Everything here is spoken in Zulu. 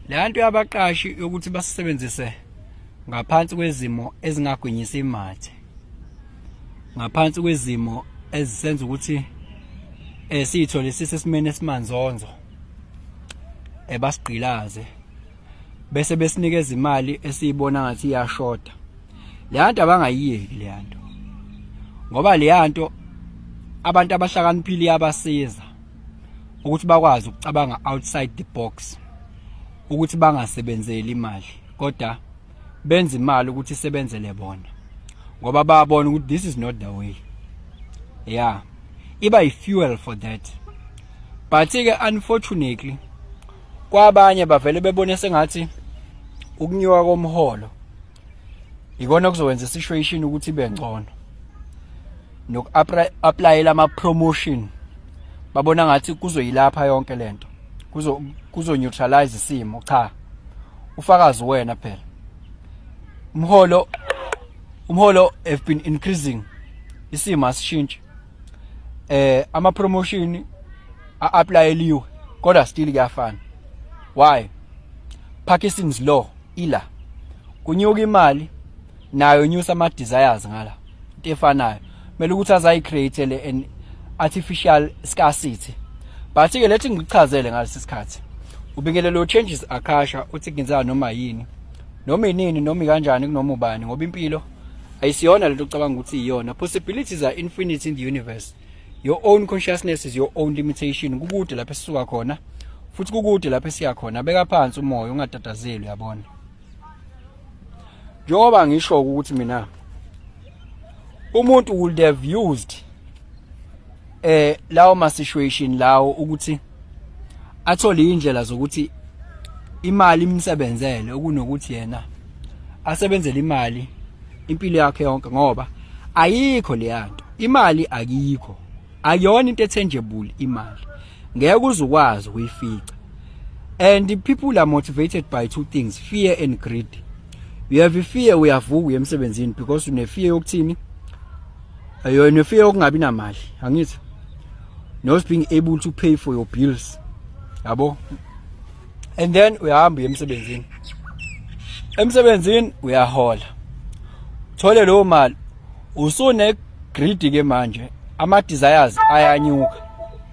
Leyanto yabaqashi yokuthi basisebenzise ngaphansi kwezimo ezingagwinyisa imathe. Ngaphansi kwezimo ezisenza ukuthi eh sithole sisesimene esimanzonzo ebasigqilaze eh, bese besinikeza imali esiyibona ngathi iyashoda leyanto abangayiyeki leyanto ngoba leyanto abantu abahlakaniphile iyabasiza ukuthi bakwazi ukucabanga outside the box ukuthi bangasebenzeli imali kodwa benza imali ukuthi isebenzele bona ngoba bayabona ukuthi this is not the way yeah iba i-fuel for that but-ke unfortunately kwabanye bavele bebone sengathi ukunyuka komholo ikona kuzowenza isituation ukuthi ibe ngcono noku applyela ama promotion babona ngathi kuzoyilapha yonke lento kuzo kuzo neutralize isimo cha ufakazi wena phela umholo umholo have been increasing isimo asishintshe eh ama promotion a applyeliwe kodwa still kuyafana why Parkinson's law ila kunyuka imali nayo nyusa ama desires ngala into efanayo kumele ukuthi azayi create le an artificial scarcity but ke lethi ngikuchazele ngalesi sikhathi ubingelelo changes akasha uthi ngenzana noma yini noma inini noma kanjani kunoma ubani ngoba impilo ayisiyona lento ocabanga ukuthi iyona possibilities are infinite in the universe your own consciousness is your own limitation kukude lapho esisuka khona futhi kukude lapho esiya khona beka phansi umoya ungatatazeli uyabona njengoba ngisho ukuthi mina umuntu would have used eh lawo ma situation lawo ukuthi athole indlela zokuthi imali imsebenzele okunokuthi yena asebenzele imali impilo yakhe yonke ngoba ayikho leyanto imali akikho ayona into ethenjebule imali ngeke uzukwazi ukuyifica and people are motivated by two things fear and greed you have a fear uyavuka emsebenzini because une fear yokuthini Ayo ne fear okungabi namali angithi not being able to pay for your bills yabo and then uyahamba uye emsebenzini emsebenzini uyahola thole leyo mali usune greedy ke manje ama desires ayanyuka